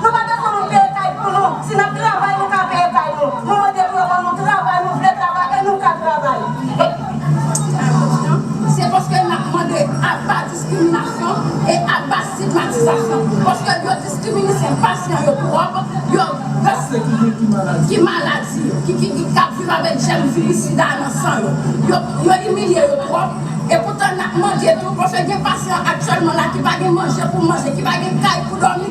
Nou pa gen pou nou peye kay pou nou, si nap travay nou ka peye kay nou, nou mande pou yo ban nou travay, nou vle travay e nou ka travay e. Se paske nap mande aba diskriminasyon e aba stigmatizasyon paske yo diskriminisen pasyan yo twòp, yo Pase ki gen ki maladi. Ki maladi yo, ki ki kap viv avèk jèm viris sida a nan san yo, yo yo imilye yo twòp e poutan nap mande tou paske gen pasyan aktyèlman la ki pa gen manje pou manje, ki pa gen kay pou dòmi.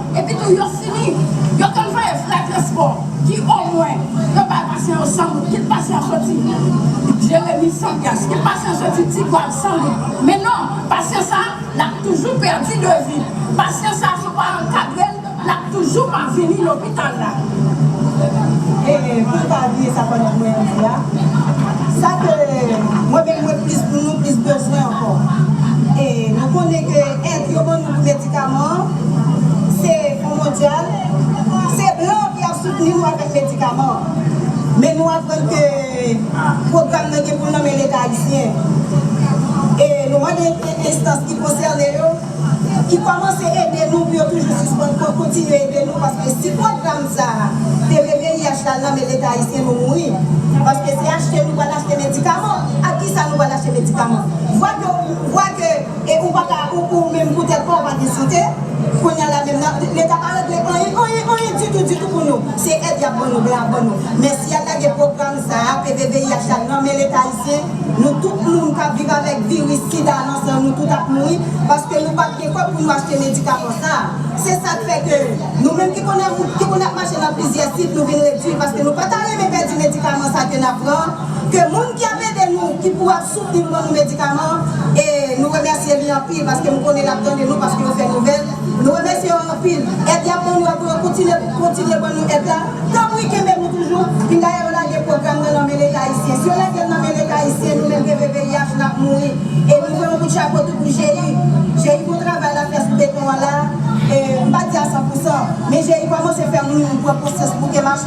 Epi tou yo fini, yo konn voye frè transpò ki omwen yo bay pasyan yo 100 goud, kit pasyan soti Jeremi, Sandyas, kit pasyan soti Tigwav 100 goud. Men non, pasyan sa a, l ap toujou pèdi devi. Pasyan sa a, si w pa ankadre l, l ap toujou pa vini lopital la. E pou nou pa bliye sa Kònèl Moyen di a, sa ke mwen menm mwen plis pou nou plis bezwen ankò, e nou konnen ke èd yo ban nou pou. Medikaman se pou mondyal, se blan ki ap soutni nou avèk medikaman. Men nou aprann ke pwogram nan gen pou l nan men leta ayisyen. E nou mande enstans ki konsène yo ki kòmanse ede nou pou yo toujou sispann pou yo kontinye ede nou paske si pwogram sa a te VVIH la al nan men leta ayisyen nou mouri paske se achte nou pral achte medikaman. Ak kisa nou pral achte medikaman vwa ke E ou paka ou menm pou tèt paw ou pa gen sante kounya la menm nan leta pa regle anyen anyen anyen ditou ditou pou nou se èd yap ban nou blan ap ban nou mèsi yal lage pwogram sa peve VIH la nan men leta ayisyen nou tout moun kap viv avèk viris sida nan san nou tout ap mouri paske nou pap gen kòb pou nou achte medikaman sa se sak fè ke nou menm ki konnen moun ki konnen ap mache nan plizyè sit nou vin redwi paske nou pata renmen pèdi medikaman sa ke nap pran. Ke moun ki ap ede nou ki pou ap soutni nou ban nou medikaman e nou remèsye li anpil paske m konnen lap tande nou paske yo fè nouvèl nou remèsye yo anpil èd yap ban nou a pou yo kontinye kontinye ban nou èd la tanpri kenbe nou toujou fin dayè yo lage pwogram nan nan men leta ayisyen si yo lagel nan men leta ayisyen nou menm pvpih nap mouri e nou vwe yon kout chapo tou pou GI GI bon travay lap fè sou beton an la m pa di a 100 pousan men GI kòmanse fè moun pran konsyans pou ke mach.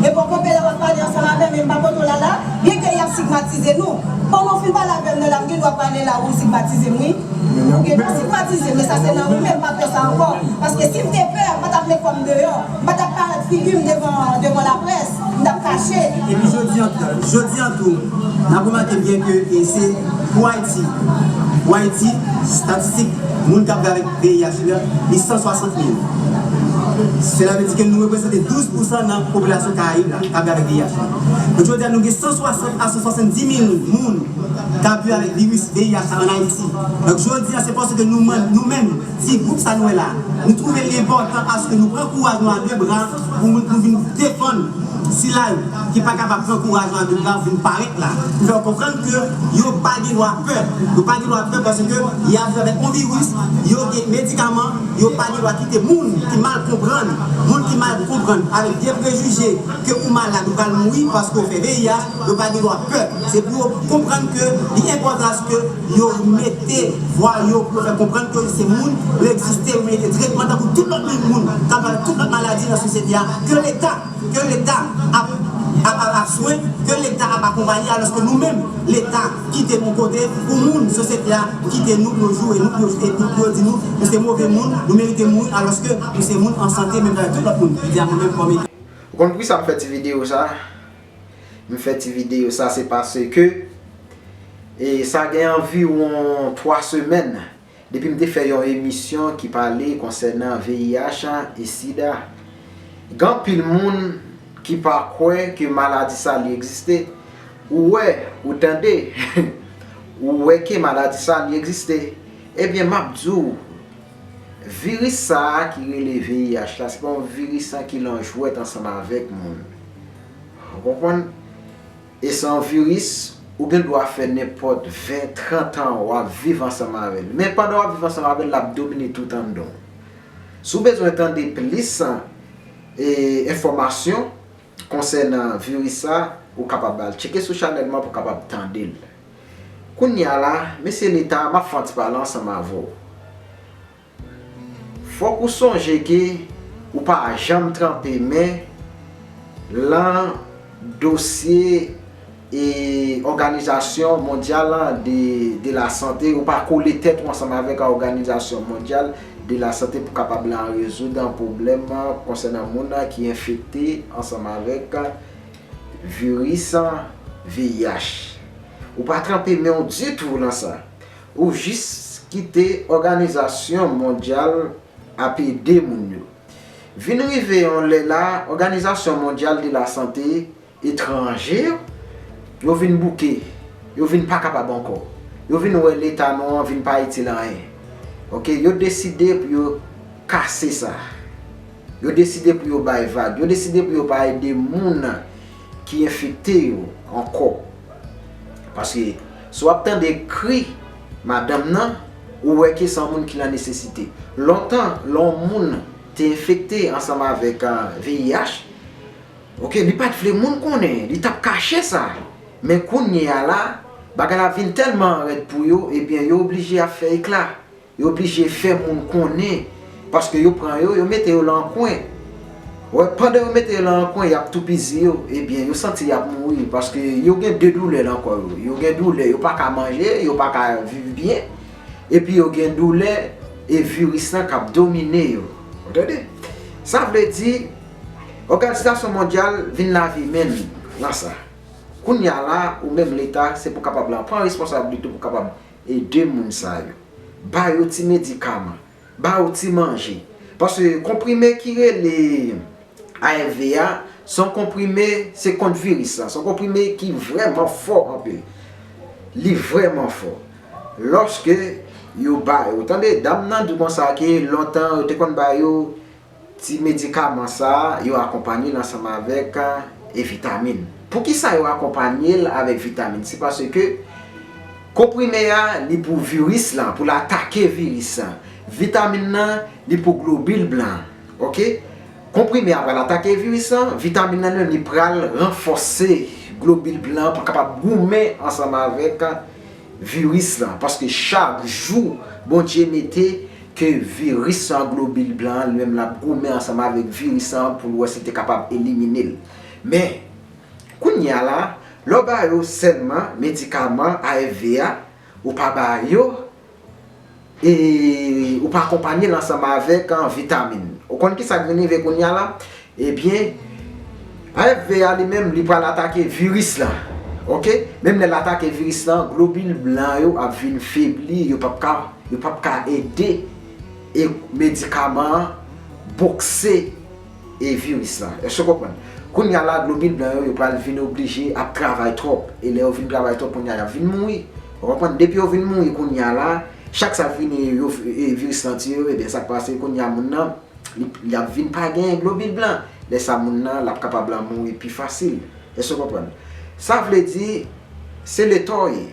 Epòk mwen te la wap pale ansanm avèm men m pa kote w la la byen ke yap sigmatize nou pandan w fin pale avèm nan la m gen dwa pale la ou sigmatize m wi ou gen dwa sigmatize m men sa se nan ou men m pa pè sa ankò paske si m te pè m pa tap met kò m deyò m pa tap parèt figi m devan laprès m tap kache. Epi jodi an jodi an tou n ap remake byen ke se pou Ayiti pou Ayiti statistik moun k ap viv avèk. VIH li an, li 160 mil. Sela vle di ke nou represante 12 pousan nan popilasyon Karayib la kap viv avèk VIH la. Donk jodi a nou gen 160 a 170 mil moun kap viv avèk viris VIH la an Ayiti. Donk jodi a se paske nou menm, nou menm ti gwoup sa nou wè la a, nou twouve li enpòtan aske nou pran kouraj nou a 2 bra pou nou vin defann sila yo. ki pa kapab pran kouraj nan vil la pou vin parèt la, pou fè yo konprann ke yo pa gen dwa pè. Yo pa gen dwa pè paske y ap jwe avèk yon viris, yo gen medikaman, yo pa gen dwa kite moun ki mal konprann, moun ki mal konprann avèk vye prejije ke ou malad, ou pral mouri paske ou fè VIH, yo pa gen dwa pè. Se pou yo konprann ke li enpòtan aske yo mete vwa yo pou yo fè konprann ke se moun, yo egziste, yo merite tretman tankou tout lòt moun k ap jwe avèk tout lòt maladi nan sosyete a ke leta. Ke leta ap ap swen, ke leta ap akonpaye aloske nou menm leta kite nou kote pou moun sosyete a kite nou pou yo joure nou, pou yo fete nou, pou yo di nou nou se move moun, nou merite mouri aloske nou se moun an sante menm jan avèk tout lòt moun. Li di a mwen menm kòm. Ou konn poukisa m fè ti videyo sa? M fè ti videyo sa se paske e sa gen anviwon 3 semèn Depi m te fè yon emisyon ki pale konsènan VIH e sida, gen anpil moun ki pa kwè ke maladi sa li egziste. Ou wè, ou tande, ou wè ke maladi sa li egziste. Ebyen, m ap di w, viris sa a ki rele VIH la, se pa yon viris an ki lan jwèt ansanm avèk moun. Ou konprann? E san viris, ou gen dwa fè nenpòt 20, 30 an w ap viv ansanm avè l. Men pandan w ap viv ansanm avè l, l ap domine tout anndan w. Si w bezwen tande plis enfòmasyon konsènan viris sa, ou kapab al tcheke sou chanèl mwen pou w kapab tande l. Kounye a la, Mesye Leta, m ap fè yon ti pale ansanm avè w. Fòk ou sonje ke ou pa janm tranpe men lan dosye e òganizasyon mondyal lan de la sante, ou pa kole tèt ou ansanm avèk a òganizasyon mondyal de la sante pou kapab lan rezoud an pwoblèm konsènan moun lan ki enfekte ansanm avèk viris VIH. Ou pa tranpe men ou ditou lan sa. Ou jis kite òganizasyon mondyal ap ede moun yo. Vin rive yon lè la òganizasyon mondyal de la sante etranje yo, yo vin bouke, yo vin pa kapab ankò. Yo vin wè leta nou an vin pa itil anyen. Ok, yo deside pou yo kase sa. Yo deside pou yo bay vag. Yo deside pou yo pa ede moun ki enfekte yo ankò paske si w ap tande kri madanm nan ou wè ke se yon moun ki nan nesesite lontan lè yon moun te enfekte ansanm avèk VIH ok li pat vle moun konnen li t ap kache sa men kounye a la bagay la vin tèlman rèd pou yo ebyen yo oblije ap fè ekla Yo blije fè moun konnen paske yo pran yo, yo mete yo lan yon kwen. Wè, pandan yo mete yo lan yon kwen, y ap toupizi yo. Ebyen, yo santi y ap mouri paske yo gen de doulè lan kò yo. Yo gen doulè, yo pa ka manje, yo pa ka viv byen. Epi yo gen doulè e viris lan k ap domine yo. Ou tande? Sa vle di, Òganizasyon Mondyal vin lave men li lan sa. Kounye a la, ou menm Leta, se pou kapab lan pran responsablite pou kapab Ede moun sa yo. Ba yo ti medikaman. Ba yo ti manje. Paske konprime ki rele ARV a, se yon konprime, se kont viris la. Se yon konprime ki vrèman fò anpil. Li vrèman fò. Lòske yo ba yo. Tande, dam nan di konsa ke lontan yo te konn ba yo. Ti medikaman sa yo akonpanye l ansanm avèk e vitamin. Poukisa yo akonpanye l avèk vitamin? Se paske konprime a li pou viris lan, pou l atake viris lan. Vitamin nan li pou globil blan an. Ok. Konprime a pral atake viris lan, vitamin nan li menm li pral ranfòse globil blan an pou l kapab goumen ansanm avèk Viris lan paske chak jou Bondye mete ke viris lan globil blan an li menm lap goumen ansanm avèk viris lan an poul wè sil te kapab eliminel men kounya la lè w ba yo sèlman medikaman AFV a ou pa ba yo E ou pa akonpanye l ansanm avèk vitamin. Ou konn kisa k vin rive kounya la? Ebyen HFV a li menm li pral atake viris la ok. Menm lè l atake viris la globil blan yo ap vin febli yo pap ka yo pap ka ede e medikaman an bokse. e viris la. Èske w konprann? Kounye a la, globil blan yo, yo pral vin oblije ap travay twòp. E lè yo vin travay twòp kounye a, y ap vin mouri. Ou konprann? Depi yo vin mouri kounye a la, chak sa vini yo, e viris lan tiye yo, ebyen sa k pase kounye a moun nan, li, li ap vin pa gen globil blan. Lè sa moun nan, l ap kapab la mouri pi fasil. Èske w konprann? Sa vle di, se leta w ye.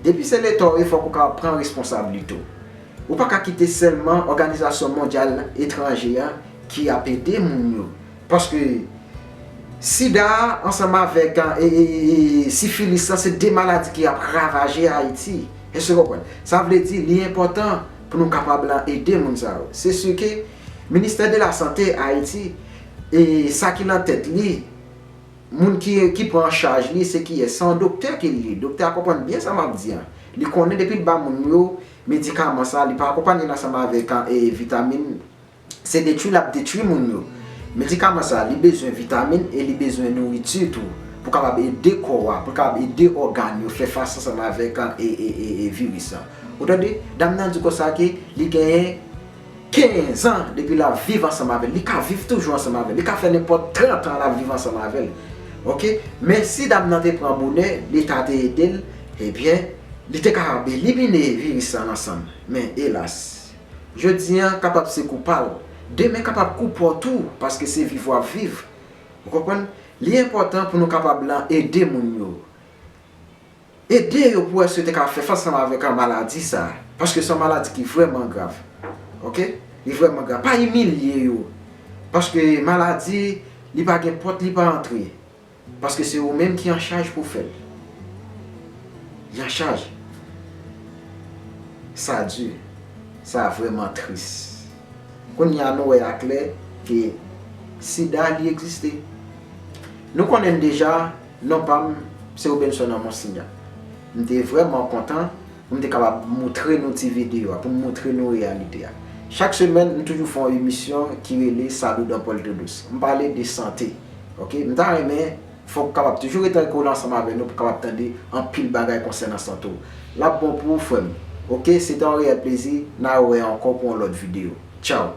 Depi se leta w ye fòk ou ka pran responsablite w. Ou pa ka kite sèlman òganizasyon mondyal etranje an ki ap ede moun yo. Paske sida a ansanm avèk sifilis lan se 2 maladi ki ap ravaje Ayiti. Èske w konprann? Sa vle di li enpòtan pou nou kapab ede moun sa yo. Se si ke ministè de la sante Ayiti e sa ki nan tèt li Moun ki ki pran an chaj li se kiyès? Se yon doktè ki l ye. Doktè a konprann byen sa m ap di an. Li konnen depi l ba moun yo medikaman sa, li pa akonpanye l ansanm avèk vitamin, se detwi l ap detwi moun yo. Medikaman sa, li bezwen vitamin e li bezwen nouriti tou pou l kapab ede kò a, pou l kapab ede ògàn yo fè fas ansanm avèk viris lan. Ou tande? Dam nan di konsa ke li genyen. 15 ans depi lap viv ansanm avèl li ka viv toujou ansanm avèl li ka fè nenpòt 30 ans lap viv ansanm avèl ok men si dam nan te pran bonè leta te edel ebyen li te kapab elimine viris sa nan sanl men elas jodi an kapab se kou pal demen kapab kou paw tou paske se viv wap viv ou konprann li enpòtan pou nou kapab lan ede moun yo. Ede yo pou èske yo te ka fè fas ansanm avèk maladi sa a. Paske se yon maladi ki vrèman grav. Ok? Li vrèman grav. Pa imilye yo. Paske maladi, li pa gen pòt li pa antre. Paske se ou menm ki anchaj pou fè l. Li anchaj. Sa di. Sa vrèman tris. Kounye a nou wè a klè ke sida li egziste. Nou konnen deja Non pa m se Robenson an Monsignan. M te vrèman kontan pou m te kapab moutre nou ti videyo a, pou m moutre nou reyalite a. Chak semèn, m toujou fè yon emisyon ki rele Salut dans Puerto Douce. M pale de sante. Ok. M ta renmen fè w kapab toujou rete kole ansanm avè nou pou w kapab tande anpil bagay konsènan sante w. L ap bon pou ou frè m. Ok, se te yon reyèl plezi. N a wè ankò pou yon lòt videyo. Tchaw!